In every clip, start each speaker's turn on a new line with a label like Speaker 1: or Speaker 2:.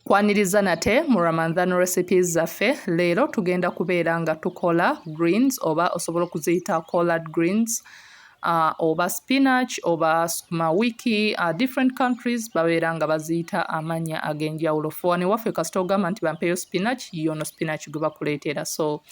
Speaker 1: Kwaniriza nate mu Ramadhan recipes zaffe leero tugenda kubeera nga tukola greens oba osobola okuziyita collard greens uh, oba spinach oba sukuma wiki uh, different countries babeera nga baziyita amanya ag'enjawulo fewano ewaffe kasita ogamba nti bampeyo spinach yono spinach gwe bakuleetera so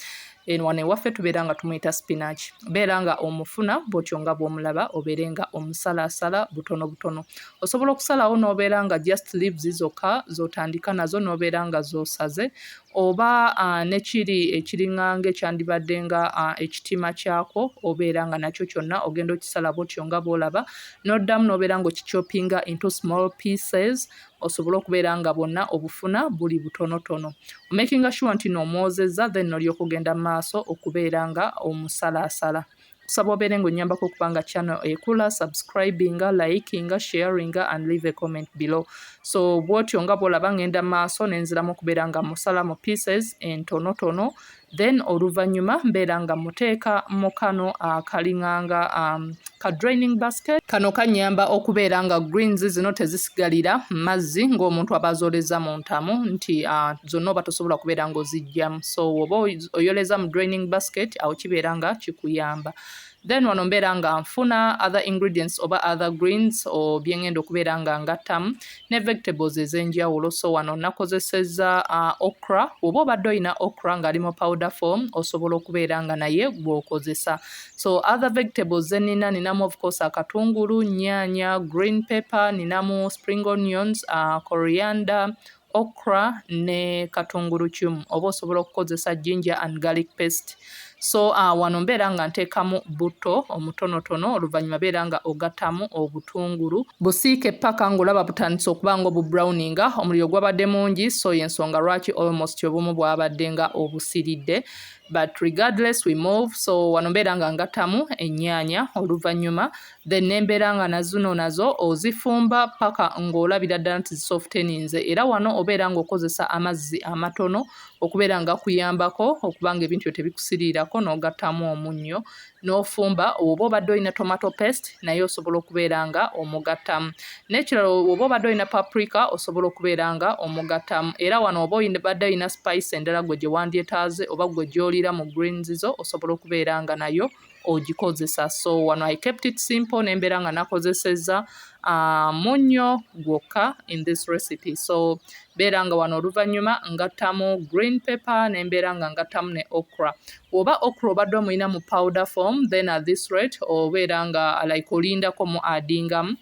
Speaker 1: eno wano ewaffe tubeera nga tumuyita spinach beera nga omufuna bwotyo nga bwomulaba obeere nga omusalaasala butono butono osobola okusalawo n'obeera nga just leaves zokka zotandika nazo n'obeera nga zosaze oba uh, nekiri ekiringanga ekyandibadde nga uh, ekitima kyakwo obeera nga nakyo kyonna ogenda okisala bwotyo nga bwolaba noddamu n'obeera nga okichopinga into small pieces osobole okubeera nga bwonna obufuna buli butonotono omakinga sure nti noomwozezza then nolyoka ogenda mu maaso okubeera nga omusalaasala kusaba obeere ng'onnyambako okuba nga channel ekula subscribinga likinga sharinga and leave a comment below so bwotyo nga bwolaba ng'enda maaso nenziramu okubeera nga musala mu pieces entonotono then oluvannyuma mbeera nga muteeka mu kano akalinganga ah, um, ka draining basket kano kanyamba okubeera nga greens zino tezisigalira mazzi ng'omuntu aba azooleza mu ntamu nti uh, zonna oba tosobola kubeera ng'ozijjamu so oba oyoleza mu draining basket awo kibeera nga kikuyamba then wano mbeera nga nfuna other ingredients oba other greens o byengenda okubeera nga ngattamu ne vegetables ez'enjawulo so wano nakozeseza uh, okra oba obadde olina okra ng'ali mu powder form osobola okubeera nga naye gw'okozesa so other vegetables ze nina ninamu of course akatungulu nyaanya green pepper ninamu spring onions uh, coriander okra ne katungulucumu oba osobola okukozesa ginger and garlic paste so uh, wano mbeera nga nteekamu butto omutonotono oluvannyuma beera nga ogattamu obutungulu busiike ppaka ng'olaba butandise okuba nga obubrowninga omuliro gwabadde mungi so y'ensonga lwaki almost obumu bwabadde nga obusiridde but regardless we move so wano mbeera nga ngattamu ennyaanya oluvannyuma then nembeera nga nazuno nazo ozifumba paka ng'olabira ddala nti zisofteninze era wano obeera ng'okozesa amazzi amatono okubeera nga kuyambako okuba nga ebintu byo tebikusiriirako n'ogattamu omunnyo n'ofumba oba obadde olina tomato paste naye osobola okubeera nga omugattamu n'ekirala oba obadde olina paprika osobola okubeera nga omugattamu era wano oba obadde olina spice endala gwe gye wandyetaaze oba gwe gy'oliira mu greens zo osobola okubeera nga nayo ogikozesa so wano i kept it simple nembeera nga nakozeseza uh, munyo gwokka in this recipe so beera nga wano oluvannyuma ngattamu green paper nembeera nga ngattamu ne okra oba okra obadde omulina mu powder form then at this rate obeera nga like olindako mu adingamu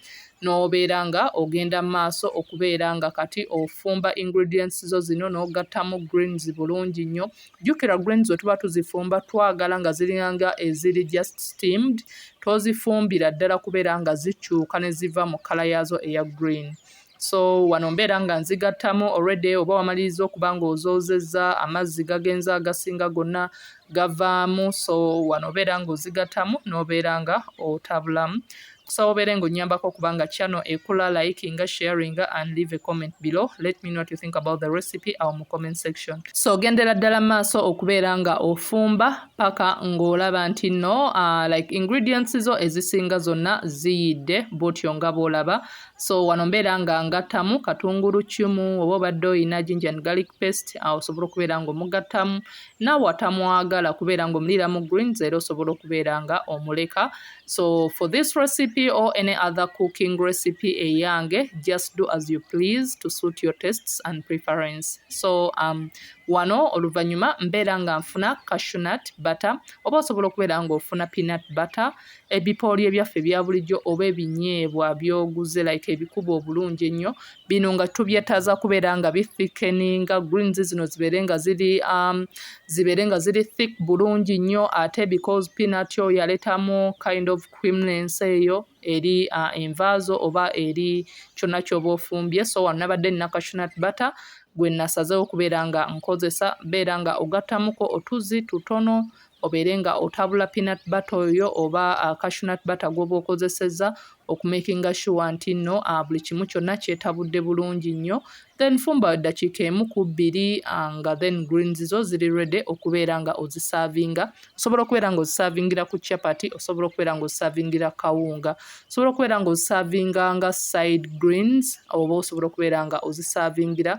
Speaker 1: n'obeera nga ogenda mu maaso okubeera nga kati ofumba ingredients zo zino n'ogattamu greens bulungi nnyo Jjukira greens bwe tuba tuzifumba twagala nga ziringa nga eziri just steamed, tozifumbira ddala kubeera nga zikyuka ne ziva mu kkala yaazo eya green. So wano mbeera nga nzigattamu already oba wamaliriza okuba ng'ozoozezza amazzi gagenze agasinga gonna gavaamu, so wano obeera ng'ozigattamu n'obeera nga otabulamu. kusaba obeere ng'onnyambako okuba nga channel ekula likinga sharinga and leave a comment below let me know what you think about the recipe awo mu comment section so gendera ddala maaso okubeera nga ofumba paka ng'olaba nti no uh, like ingredients zo ezisinga zonna ziyidde bwotyo nga bwolaba so wano mbeera nga ngattamu katungulu kimu oba obadde oyina ginger and garlic paste awo osobola okubeera ng'omugattamu naawe atamwagala kubeera ng'omuliira mu greens era osobola okubeera nga omuleka uh, So for this recipe or any other cooking recipe eyange, just do as you please to suit your tastes and preference. So um, wano oluvanyuma mbeera nga nfuna cashunut butter oba osobola okubeera nga ofuna peanut butter ebipooli ebyaffe ebya bulijjo oba ebinyeebwa byoguze like ebikuba obulungi ennyo bino nga tubyetaaza kubeera nga bifikeni nga greens zino zibeere nga ziri um, zibeere nga ziri thick bulungi nnyo ate because peanut oyo yaletamu kind of creamness eyo eri uh, envaazo oba eri kyonna kyoba ofumbye so wano nabadde nina cashunat butter gwe nasazeewo okubeera nga nkozesa beera nga ogattamuko otuzi tutono obeere nga otabula peanut butter oyo oba cashew nut butter gw'oba okozesezza okumakinga sure nti nno buli kimu kyonna kyetabudde bulungi nnyo. Then fumba eddakiika emu ku bbiri nga then greens zo ziri ready okubeera nga ozisaavinga. Osobola okubeera nga ozisaavingira ku chapati, osobola okubeera nga ozisaavingira kawunga, osobola okubeera nga ozisaavinga nga side greens oba osobola okubeera nga ozisaavingira